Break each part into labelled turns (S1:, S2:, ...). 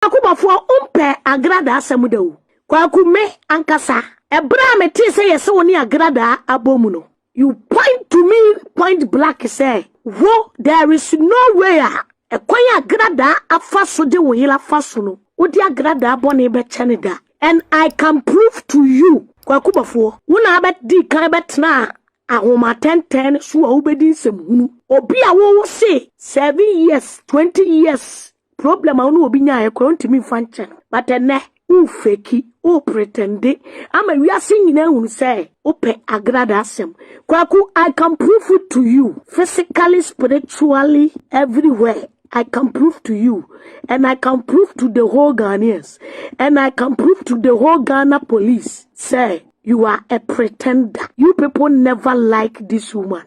S1: Kwaku Bofoɔ wo mpɛ Agrada asɛm da o. Kwaku me ankasa ɛberɛ a me tee sɛ yɛse wo ne Agrada abɔ mu no you point to me point black sɛ wo there is no way a ɛkwan a Agrada afa so de wo yere afa so no wo de Agrada bɔne bɛkyɛ no da and I can prove to you Kwaku Bofoɔ wo na abɛ dii kan bɛ tenaa ahomatɛntɛn no so a wo bɛ di nsɛm hunu obi a wo wo se seven years twenty years Problem a wo ne obi nyaeɛ koraa ɔntumi mfa nkyɛ no. But ɛnɛ, wofeki, wopretɛnde ama wiase nyinaa ahunu sɛ wopɛ Agrada asɛm. Kwaku, I can prove it to you physically, spiritually, everywhere. I can prove to you and I can prove to the whole Ghanaians and I can prove to the whole Ghana police sɛ You are a pretender. You people never like this woman.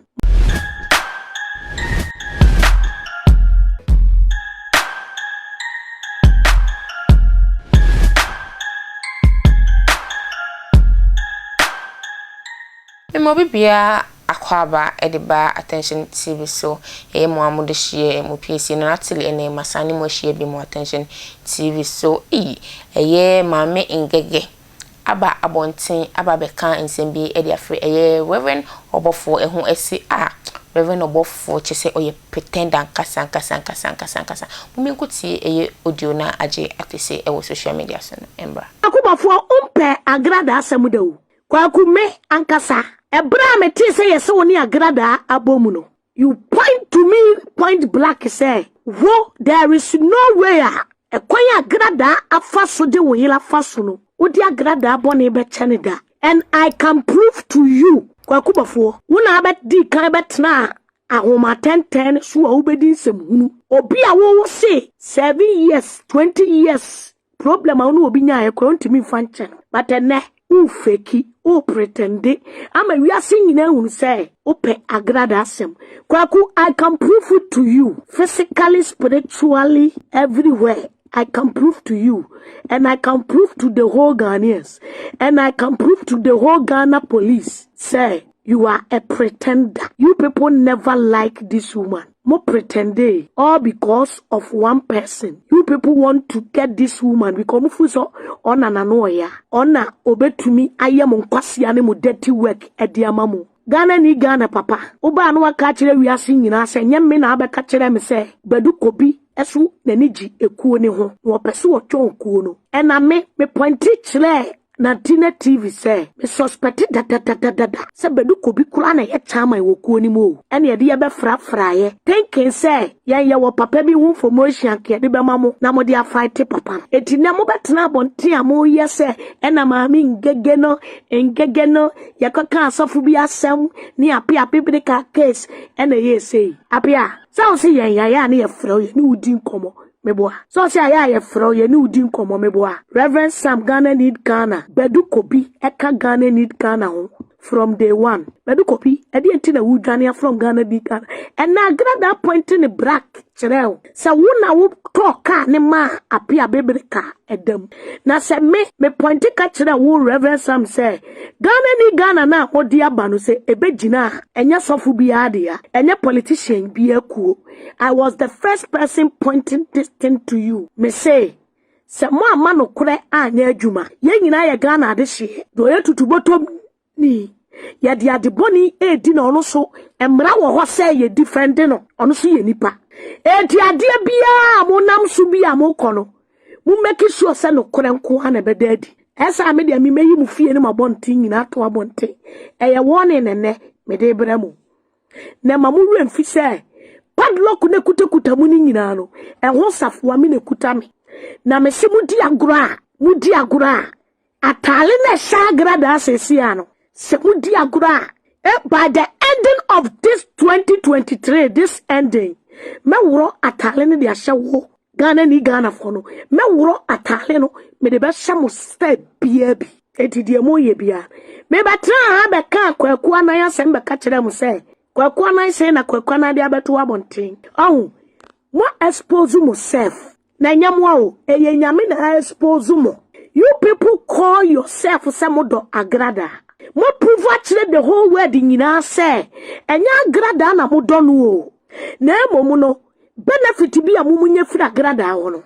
S2: Mmɔ obi biara akwaaba de ba Attention TV so. Ɛyɛ mo a mo de hyia yɛ mo piesie no Natalie ɛnɛ ma saa ne mo ahyia bi mo Attention TV so. Eyi ɛyɛ maame ngɛgɛ. aba abɔnten aba abɛka nsɛm bi de afrɛ ɛyɛ Rev. Ɔbɔfoɔ ɛho ɛse a Rev. Ɔbɔfoɔ kyɛ sɛ ɔyɛ pretender ankasa ankasa ankasa ankasa ankasa mo me nko tie ɛyɛ audio no a agye atese ɛwɔ social media so no ɛmbra. Kwaku Bɔfoɔ wo mpɛ
S1: Agrada asɛm da o. Kwaku me ankasa ɛberɛ a metee sɛ yɛse wo ne Agrada abɔ mu no You point to me point black sɛ wo there is no way a ɛkwan a gradaa afa so de wo yere afa so no wode agradaa bɔne bɛkyɛ no da and I can prove to you Kwaku Bɔfoɔ wo na abɛdi kan bɛtena ahomatɛntɛn no so a wobɛdi nsɛmhunu obi a wowo se seven years twenty years Problem a wo ne obi nyaeɛ koraa ɔntumi mfa nkyɛ no. But ɛnɛ wofeki, wopretɛnde ama wiase nyinaa ahunu sɛ wopɛ agrada asɛm. Kwaku, I can prove it to you physically, spiritually, everywhere. I can prove to you and I can prove to the whole Ghanaians and I can prove to the whole Ghana police sɛ You are a pretender you people never like this woman mo pretendee all because of one person you people want to get this woman because mo feel sɛ ɔna na no ɔya ɔna obetumi ayɛ mo nkwasea ne mo dirty work ɛde ama mo. Ghana ni Ghana papa wobaa na waka akyerɛ wiase nyinaa sɛ nyɛ me na abɛka kyerɛ me sɛ Badu Kobi so n'ani gye ekuo no ho na ɔpɛ sɛ ɔtɔn kuo no ɛna me me pointe kyerɛɛ Na Tina TV sɛ, Me suspect dadadadada sɛ Badu Kobi koraa na ɛyɛ chairman wɔ kuo no mu o. Ɛna yɛde yɛ bɛ frafraeɛ thinking sɛ yɛn yɛwɔ papa bi ho information anka yɛde bɛma mo na mode a fight papa no. Enti nnɛ mo bɛtena abɔnten a mo yɛ sɛ ɛna maame Ngege no Ngege no yɛkɔ kaa asɔfo bi asɛm ne Apea Apebreka case ɛna ɛyɛɛ sei. Apea, sɛ wo se yɛn yɛayɛ a ne yɛfrɛ wo yɛne wo di nkɔmmɔ Meboa. Sɛ ɔse ayɛ a yɛfrɛ wo yɛne wo di nkɔmmɔ meboa. Rev Sam Ghana need Ghana Badu Kobi ɛka Ghana need Ghana ho from day one Badu Kobi ɛdeɛn nti na wodwane a from Ghana need Ghana ɛna Agrada pointe ne brak kyerɛɛ wo sɛ wo na wo tɔɔ kaa ne maa Appiah Abebere ka ɛda mu na sɛ me me pointe ka kyerɛɛ wo Rev Sam sɛ Ghana need Ghana no a mode aba no sɛ ɛbɛgyina a ɛnyɛ sɔfo biara dea ɛnyɛ politician biara kuo I was the first person pointing this thing to you. Me say, sɛ mo amma nokorɛ anyɛ adwuma yɛn nyinaa yɛ ghana adehyeɛ deɛ ɔyɛ tutubɔtɔm ni yɛde adebɔne ɛredi na ɔno so mmara wɔ hɔ sɛ yɛ difɛnde no ɔno so yɛ nipa ɛti adeɛ biara mo nam so bi a mokɔ no mo mmɛki sure sɛ nokorɛ nko a na ɛbɛda adi ɛsɛ a medeɛ memɛyi mo fie no ma bɔnten nyinaa to abɔnten ɛyɛ wɔne nɛnɛ mede brɛ mo Na ɛma mo werɛ mfi sɛ padlock no ekutakuta mo no nyinaa no, ɛho safoa me na ekuta me. Na mese modi agorɔ a, modi agorɔ a, ataale na ɛhyɛ agradaa seesei a no, sɛ modi agorɔ a, eh, by the ending of this 2023, this ending, mɛworɔ ataale no de ahyɛ wo Ghana ni Ghana foɔ no mɛworɔ ataale no mede bɛhyɛ mo style biaa bi enti deɛ moyɛ biaa mebɛtraa ha bɛkaa Kwaku Anan asɛm bɛka kyerɛɛ mo sɛ Kwaku Anan sei na Kwaku Anan de abɛto abɔnten ɔho mo expose mo self na ɛnyɛ mo a o ɛyɛ nyame na expose mo you people call yourself sɛ mo dɔ agradaa mo prove akyerɛ the whole world nyinaa sɛ ɛnyɛ agradaa na mo dɔ no o Na mmom no, benefit bi a mumunya firi agradaa hɔ no,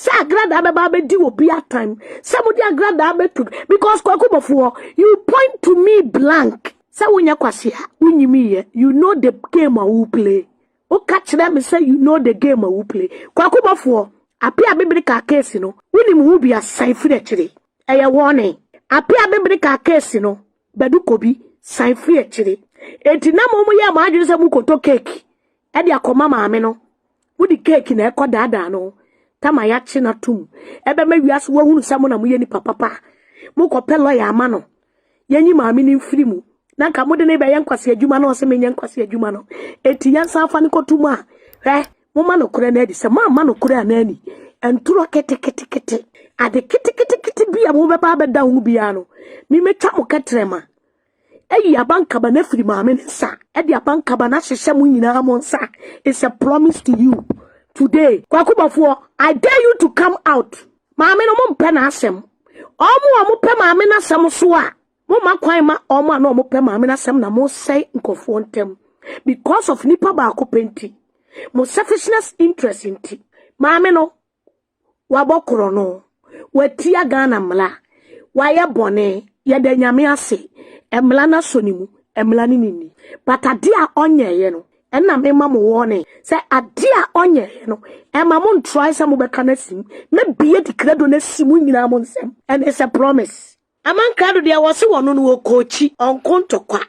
S1: sɛ agradaa bɛba abɛdi obi atam, sɛ mode agradaa bɛto, because kwaku bɔfoɔ, you point to me blank, sɛ wonyɛ kwase a, wonyimiiɛ, you know the game a wo play, woka kyerɛ me sɛ you know the game a wo play, kwaku bɔfoɔ, apia bibiri kaa case no, wonim ho bi asan firi akyire, ɛyɛ warning, apia bibiri kaa case no, Badu kɔ bi san firi akyire. Enti na mo mo yɛ mo adwene sɛ mo kɔtɔ cake ɛde akɔma maame no. Mo de cake na ɛkɔ daadaa no. Tama yakye no atom. Ɛbɛma wiase wahunu sɛ mo na mo yɛ nipa papa. Mo kɔ pɛ lawyer ama no. Yɛnyi maame no mfiri mu. Na nka mo de no rebɛyɛ nkwasi adwuma na ɔse menyɛ nkwasi adwuma no. Enti yɛnsan fa no kɔto mu a. Hwɛ Momma nokorɛ no adi. Sɛ moamma nokorɛ a no ani, ntorɔ keteketekete, ade keteketekete bi a mobɛba abɛda ho biara no, memɛtwa mo kɛtrɛma ayi abankaba no afiri maame no nsa, de abankaba no ahyehyɛ mo nyinaa mo nsa. It's a promise to you today. Kwakubafoɔ, I dare you to come out. Maame no mompɛ n'asɛm. Ɔmo a ɔmopɛ maame no asɛm so a, Momma kwan ma wɔn a na wɔpɛ maame no asɛm na mosɛe nkurɔfoɔ ntam because of nipa baako pɛ nti, mo selfishness interest nti. Maame no, wabɔ korɔno, watia Ghana mmara, wayɛ bɔne, yɛda Nyame ase, mmara no asɔ ne mu, mmara no ne nni. But adeɛ a ɔnyɛeɛ no, ɛna mema mo warning sɛ adeɛ a ɔnyɛeɛ no, ɛma mo ntrae sɛ mobɛka no asi mu. Mɛbie Dikrado no asi mo nyinaa mo nsam, and it's a promise. Aman krado deɛ wɔse wɔno no wɔkɔɔkyi ɔnko ntɔkwa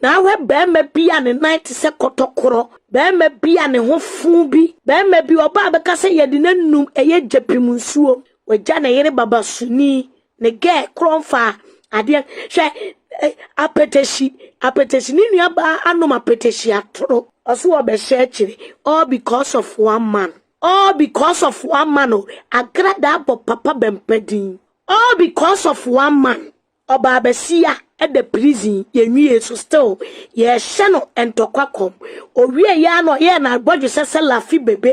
S1: na ahwɛ bɛɛma bi a ne nan te sɛ kɔtɔkorɔ bɛɛma bi a ne ho foo bi bɛɛma bi ɔbaa bɛka sɛ yɛde no anum ɛyɛ gyapim nsuo wagya ne yere babasoni ne gɛɛ korɔ mfaa adeɛ hwɛ eh, apɛtɛhyi apɛtɛhyi ne nua baa anom apɛtɛhyi atoro ɔso wɔbɛhyɛ akyire all because of one man all because of one man o agradaa bɔ papa bɛmpa din All because of one man ɔbaa basia ɛda prison yɛ nwiee so still yɛɛhyɛ no ntɔkwa kɔm ɔwie yɛ a na ɔyɛɛ na bɔdwesɛ sɛ lafi bebe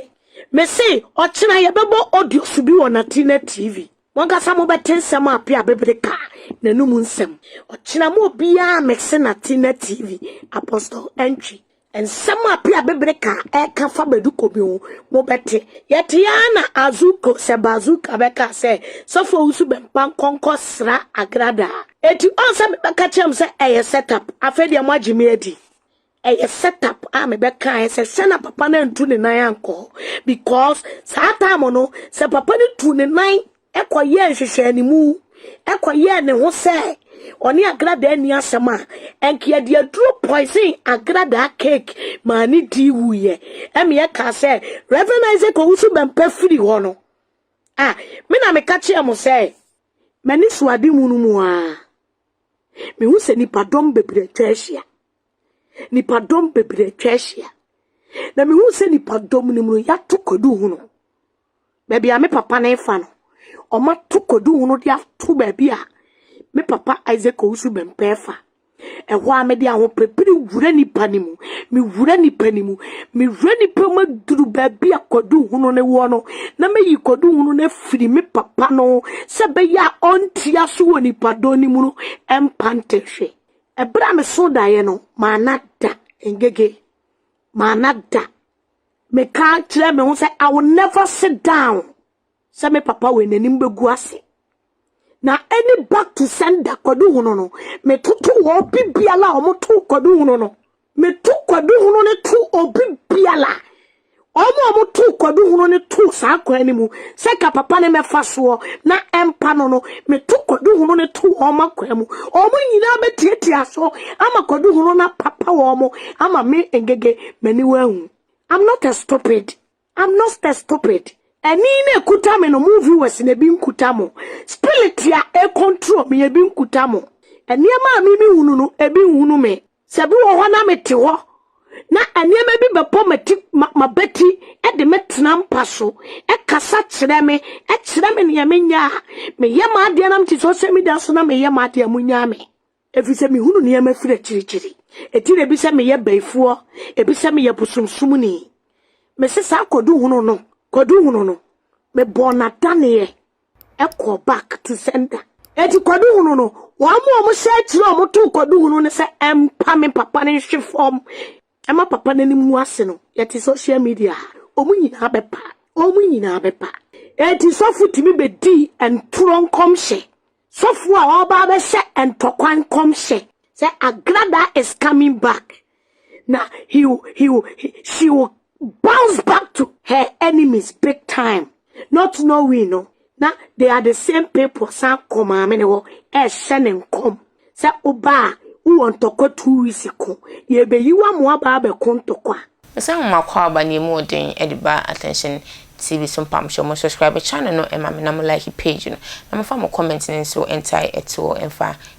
S1: mese ɔkyena yɛbɛbɔ audio so bi wɔ natina tv monkasa mobɛte nsɛm a pia bebere ka nanum nsɛm ɔkyena mo obiaa mese natina tv apostle ɛntwi Nsɛm a Pia Bebere ka a ɛka fa Baduko bi ho, mobɛte. Yɛte ara na Azuko sɛ Bazuka bɛka sɛ, Sɔfo Owusu bɛmpa nkɔnkɔ sra Agrada a. Enti ɔn sɛ mebɛka kyerɛ mo sɛ ɛyɛ set up. Afei deɛ moagye me adi. Ɛyɛ set up a mebɛkaeɛ sɛ sɛ na papa no antu ne nan ankɔ hɔ because saa time no sɛ papa no tuu ne nan kɔyɛɛ nhwehwɛanimu kɔyɛɛ ne ho sɛ ɔne agradaa ni asɛm a ɛnka yɛde aduro poison agradaa cake maa ne di wuiɛ ɛmeɛ kaa sɛ Reverend Isaac Owusu Bɛmpa firi hɔ no a me na meka kyerɛ mo sɛ m'ani so ade mu no mu a mehu sɛ nipadɔm bebree atwa ahyia nipadɔm bebree atwa ahyia na mehu sɛ nipadɔm no mu no yɛato kwadu ho no baabi a me papa no refa no, wɔato koduhu no de ato baabi a me papa Isaac Owusu-Bempah refa. Ɛhɔ ara mede ahopere wura nnipa no mu. Mewura nnipa no mu. Mewura nnipa mu aduru baabi a koduhunu no wɔ no, na meyi koduhunu no afiri me papa no sɛ ɛbɛyɛ a ɔntia so wɔ nipadɔm no mu no mpa ntɛhwe. Ɛberɛ a meso daeɛ no, manna da ngege. Manna da. Meka kyerɛɛ me ho sɛ, I will never sit down sɛ me papa wei n'anim bɛgu ase. Na ɛne back to sender kwadu hono no, metoto wɔ obi biala a wɔto kwadu hono no. Meto kwadu hono no to obi biala wɔn a wɔto kwadu hono no to saa kwan no mu sɛ ka papa ne mɛfa soɔ na ɛmpa no no meto kwadu hono no to wɔn akwan mu wɔn nyinaa bɛtiatia so ama kwadu hono na papa wɔn ama me ngege M'aniwa ahu. I'm not a stupid. I'm not a stupid. Ani na ekuta me no, mo viewers na ebi nkuta mo. Spirit a ɛcontrol me, ebi nkuta mo. Nneɛma a mimi hunu no, ebi nhunu me. Sɛ bi wɔ hɔ na mete hɔ, na nneɛma bi bɛbɔ m'ati m'abati de me tena mpa so, kasa kyerɛ me, kyerɛ me nea menyɛ a, meyɛ m'adeɛ na mete social media so na meyɛ m'adeɛ a, monnyaa me. Efisɛ mihunu nneɛma firi akyirikyiri. Enti na ebi sɛ meyɛ bayifoɔ, ebi sɛ meyɛ bosomsomni. Mese saa kwaduhunu no, kwaduhunu no, mebɔɔ no adaneɛ kɔɔ back to sender. Enti kwaduhunu no, wɔn a wɔhyɛ akyire a wɔtoo kwaduhunu no sɛ ɛmpa me papa no nhwe fam Ɛma papa no anim gu ase no yɛte social media ha wɔn nyinaa bɛpa wɔn nyinaa bɛpa enti sɔfo tumi bɛdii ntorɔ nkɔmhyɛ sɔfo a ɔba abɛhyɛ ntɔkwa nkɔmhyɛ sɛ agrada is coming back na he, he, he, she will bounce back to her enemies big time not knowing no Na they are the same people san kɔ maame ne hɔ ɛrehyɛ ne nkɔm sɛ woba a wowɔ ntɔkwa two weeks ko yɛrebɛyi wo ama woaba abɛko ntɔkwa. Ɔsɛ nhoma kɔ
S2: aba na emu wɔ den de ba Attention TV so mpam hyɛ mo subscribe channel no ma me na mo like page no na mo fa mo comment no nso ntae toɔ mfa